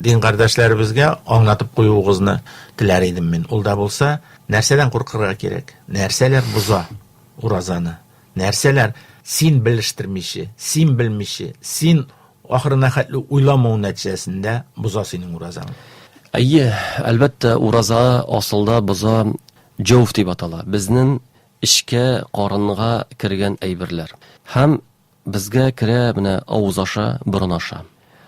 дин кардәшләребезгә аңлатып куюыгызны теләр идем мин. Ул да булса, нәрсәдән куркырга кирәк? Нәрсәләр боза уразаны? Нәрсәләр син белештермичи, син белмичи, син ахырына хәтле уйламау нәтиҗәсендә боза синең уразаң? Әйе, әлбәттә, ураза асылда боза Җәүф дип атала, безнен эчкә, карынга кергән әйберләр. Һәм безгә керә менә авыз аша, борын аша.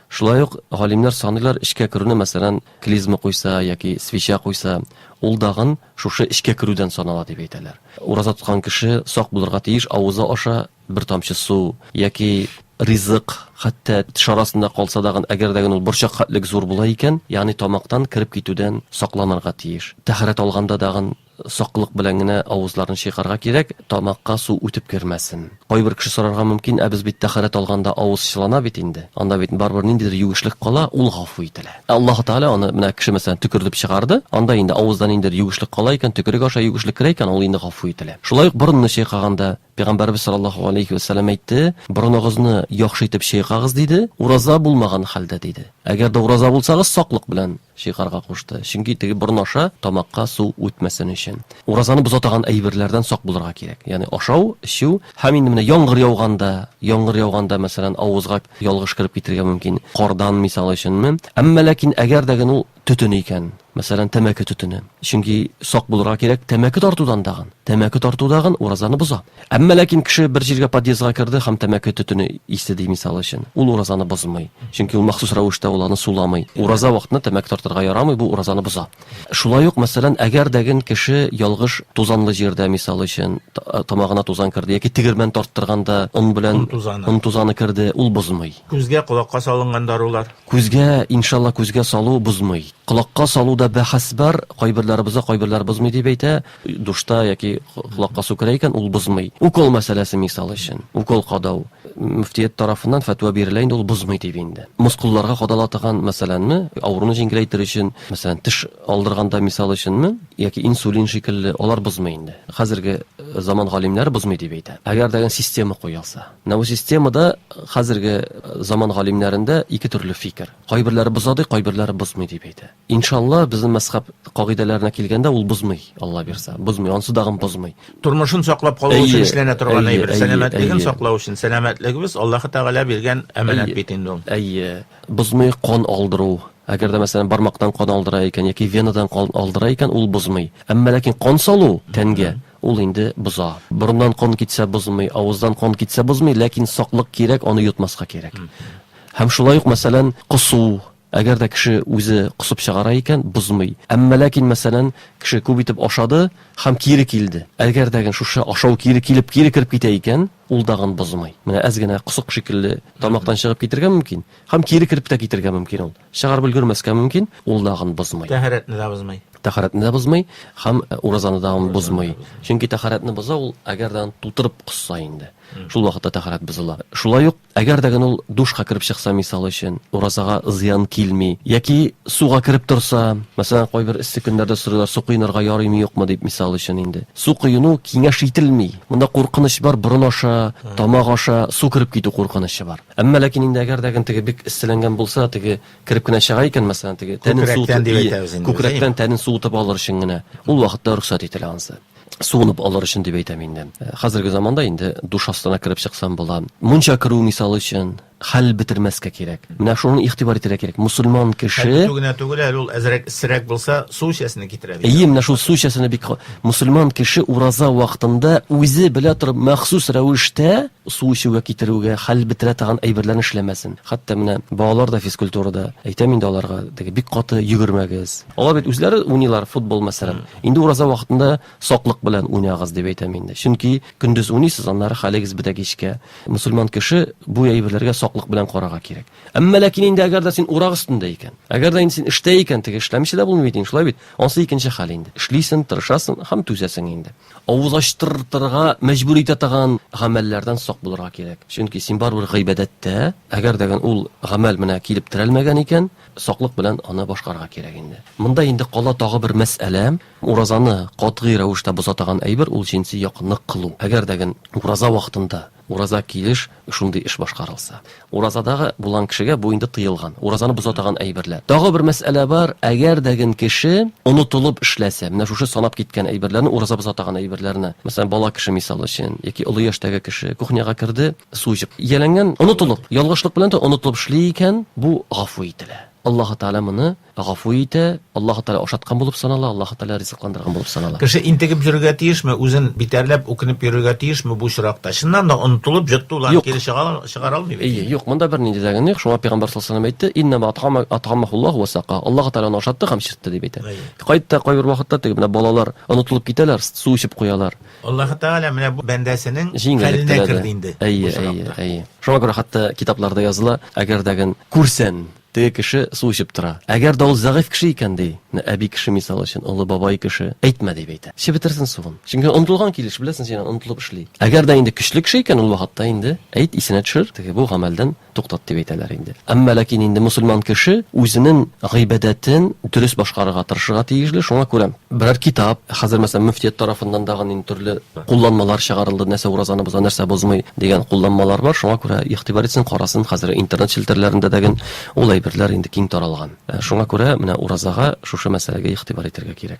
Шулай ук галимнәр саныйлар эчкә керүне, мәсәлән, клизма куйса яки свеча куйса, ул дагын шушы эчкә керүдән санала дип әйтәләр. Ураза тоткан кеше сак булырга тиеш авызы аша бер тамчы су яки ризык, хәтта теш арасында калса дагын, әгәр дә ул борчак хәтлек зур була икән, ягъни тамактан кереп китүдән сакланырга тиеш. Тәһарәт алганда дагын саклык белән генә авызларны чыйкарга кирәк, тамакка су үтеп кермәсен. Кайбер кеше сорарга мөмкин, ә без бит тәһарәт алганда авыз чылана бит инде, анда бит барыбер ниндидер юешлек кала, ул гафу ителә. Ә Аллаһы Тәгалә аны, менә кеше мәсәлән төкердеп чыгарды, анда инде авызда ниндидер юешлек кала икән, төкерек аша юешлек керә икән, ул инде гафу ителә. Шулай ук борынны чайкаганда, Пәйгамбәрбез саллаллаһу галәйһи вә сәлләм әйтте, борыныгызны яхшы итеп чыйкагыз диде, ураза булмаган хәлдә диде. Әгәр дә ураза булсагыз, саклык белән чыйкарга кушты, чөнки теге борын аша тамакка су үтмәсен өчен. Уразаны боза таган әйберләрдән сак булырга кирәк, ягъни ашау, эчү һәм инде менә яңгыр яуганда, яңгыр яуганда, мәсәлән, авызга ялгыш кереп китергә мөмкин, кардан мисал өченме. Әмма ләкин әгәр дә генә ул төтене икән, мәсәлән, тәмәке төтене. Чөнки сак булырга кирәк тәмәке тартудан дагын. Тәмәке тарту дагын уразаны боза. Әмма ләкин кеше бер җиргә подъездга керде һәм тәмәке төтене исте ди мисал өчен. Ул уразаны бозмый. Чөнки ул махсус рәвештә ул аны суламый. Ураза вакытында тәмәке тартырга ярамый, бу уразаны боза. Шулай ук, мәсәлән, әгәр дәген кеше ялгыш тузанлы җирдә мисал өчен тамагына тузан керде яки тегермән тарттырганда он белән он тузаны керде, ул бозмый. Күзгә, колакка салынган дарулар. Күзгә, иншалла күзгә салу бозмый. Колакка салу да бәхәс бар, кайберләре боза, кайберләре бозмый дип әйтә. Душта яки колакка су керә икән, ул бозмый. Укол мәсьәләсе мисал өчен, укол кадау. Мөфтият тарафыннан фәтва бирелә инде, ул бозмый дип инде. Мускулларга кадала торган мәсьәләнме, авыруны җиңеләйтер өчен, мәсәлән, теш алдырганда мисал өченме, яки инсулин шикелле, алар бозмый инде. Хәзерге заман галимнәре бозмый дип әйтә. Әгәр дә система куелса. Нәвосистемада хәзерге заман галимнәрендә ике төрле фикер. Кайберләре боза ди, кайберләре бозмый дип әйтә. Иншалла, безнең мәзхәб кагыйдәләренә килгәндә, ул бозмый, Алла бирса. Бозмый, ансы дагын бозмый. Тормышын саклап калу өчен эшләнә торган әйбер. Сәламәтлеген саклау өчен. Сәламәтлегебез, Аллаһы Тәгалә биргән әманәт бит инде ул. Әйе, бозмый кан алдыру. Әгәр дә, мәсәлән, бармактан кан алдыра икән яки венадан кан алдыра икән, ул бозмый. Әмма ләкин кан салу тәнгә, Ул инде боза. Борыннан кан китсә бозмый, авыздан кан китсә бозмый, ләкин саклык кирәк, аны йотмаска кирәк. Һәм шулай ук, мәсәлән, косу, әгәр дә кеше үзе косып чыгара икән, бозмый. Әмма ләкин, мәсәлән, кеше күп итеп ашады һәм кире килде. Әгәр дәген шушы ашау кире килеп, кире кереп китә икән, ул дагын бозмый. Менә әз генә косык шикелле тамактан чыгып китергә мөмкин һәм кире кереп тә китергә мөмкин ул. Чыгарып өлгермәскә мөмкин, ул дагын бозмый. Тәһарәтне дә бозмый. Тәһарәтне дә бозмый һәм уразаны да ул бозмый. Чөнки тәһарәтне боза ул, әгәр дә аны тутырып косса инде. Шул вакытта тәһарәт бозыла. Шулай ук, әгәр дә генә ул душка кереп чыкса, мисал өчен, уразага зыян килми. Яки суга кереп торса, мәсәлән, кайбер эссе көннәрдә сорыйлар, су коенырга ярыймы, юкмы дип, мисал өчен инде. Су коену киңәш ителми. Монда куркыныч бар, борын аша, тамак аша су кереп китү куркынычы бар. Әмма ләкин инде әгәр дә теге бик эсселәнгән булса, теге кереп кенә чыга икән, мәсәлән, теге тәнен суытып, күкрәктән дип әйтәбез инде, күкрәктән тәнен суытып алыр өчен генә, ул вакытта рөхсәт ителә ансы. Суынып алыр өчен дип әйтәм инде. Хәзерге заманда инде душ астына кереп чыксам була. Мунча керү, мисал өчен, хәл бетермәскә кирәк. Менә шуны игътибар итәргә кирәк. Мөселман кеше. Хәл бетү генә түгел әле, ул әзрәк эссерәк булса, су эчәсенә китерә бит. Әйе, менә шул су эчәсенә бик. Мөселман кеше ураза вакытында үзе белә торып, махсус рәвештә су эчүгә китерүгә, хәл бетерә торган әйберләрне эшләмәсен. Хәтта менә балалар да физкультурада, әйтәм инде аларга, теге бик каты йөгермәгез. Алар бит үзләре уйныйлар футбол, мәсәлән. Инде ураза вакытында саклык белән уйнагыз, дип әйтәм инде. Чөнки көндез уйныйсыз, аннары хәлегез бетә кичкә. Мөселман кеше бу әйберләргә саклык белән карарга кирәк. Әмма ләкин инде әгәр дә син урак өстендә икән, әгәр дә инде син эштә икән, теге эшләмичә дә булмый бит инде, шулай бит? Ансы икенче хәл инде. Эшлисен, тырышасын һәм түзәсең инде. Авыз ачтыртырга мәҗбүр итә торган гамәлләрдән сак булырга кирәк. Чөнки син барыбер гыйбадәттә, әгәр дә ул гамәл менә килеп терәлмәгән икән, саклык белән аны башкарырга кирәк инде. Монда инде кала тагы бер мәсьәлә, уразаны катгый рәвештә боза торган әйбер ул җенси якынлык кылу. Әгәр дә ураза вакытында Ураза килеш шундый эш башкарылса. Уразадагы булган кешегә бу инде тыелган. Уразаны боза таган әйберләр. Тагы бер мәсьәлә бар, әгәр дә ген кеше онытылып эшләсә, менә шушы санап киткән әйберләрне, ураза боза таган әйберләрне, мәсәлән, бала кеше мисал өчен, яки олы яшьтәге кеше кухняга керде, су эчеп, ияләнгән, онытылып, ялгышлык белән дә онытылып эшли икән, бу гафу ителә. Аллаһы Тәгалә моны Гафу итә, Аллаһы Тәгалә ашаткан булып санала, Аллаһы Тәгалә ризыкландырган булып санала. Кеше интегеп йөрергә тиешме, үзен битәрләп, үкенеп йөрергә тиешме бу очракта? Чыннан да онытылып, җоттылар, Юк. кире чыга чыгара алмый бит Әйе, инде. юк, монда бернинди дә гыйнә юк, шуңа пәйгамбәр саллаллаһу алейһи ва сәлләм әйтте, Иннәмә атгама атгаммахуллаһу ва сакаһу. Аллаһы Тәгалә аны ашатты һәм эчертте, дип әйтә. Әйе. Кайтта кайбер вакытта теге менә балалар онытылып китәләр, с су эчеп куялар. Аллаһы Тәгалә менә бу бәндәсенең Җиңеллек хәленә теләде. керде инде бу Әйе, әйе, очракта. әйе. Шуңа күрә хәтта китапларда языла, әгәр дә ген күрсән, Теге кеше су эчеп тора. Әгәр дә ул зәгыйфь кеше икән, ди, менә әби кеше, мисал өчен, олы бабай кеше, әйтмә, дип әйтә. Эчеп бетерсен суын. Чөнки онытылган килеш, беләсең син, онытылып эшли. Әгәр дә инде көчле кеше икән, ул вакытта инде, әйт, исенә төшер, теге бу гамәлдән туктат, дип әйтәләр инде. Әмма ләкин инде мөселман кеше үзенең гыйбадәтен дөрес башкарырга тырышырга тиешле, шуңа күрә. Берәр китап, хәзер мәсәлән мөфтият тарафыннан да гын төрле кулланмалар чыгарылды, нәрсә уразаны боза, нәрсә бозмый дигән кулланмалар бар, шуңа күрә игътибар итсен, карасын, хәзер интернет челтәрләрендә дә гын ул әйберләр инде киң таралган. Шуңа күрә менә уразага шушы мәсьәләгә игътибар итәргә кирәк.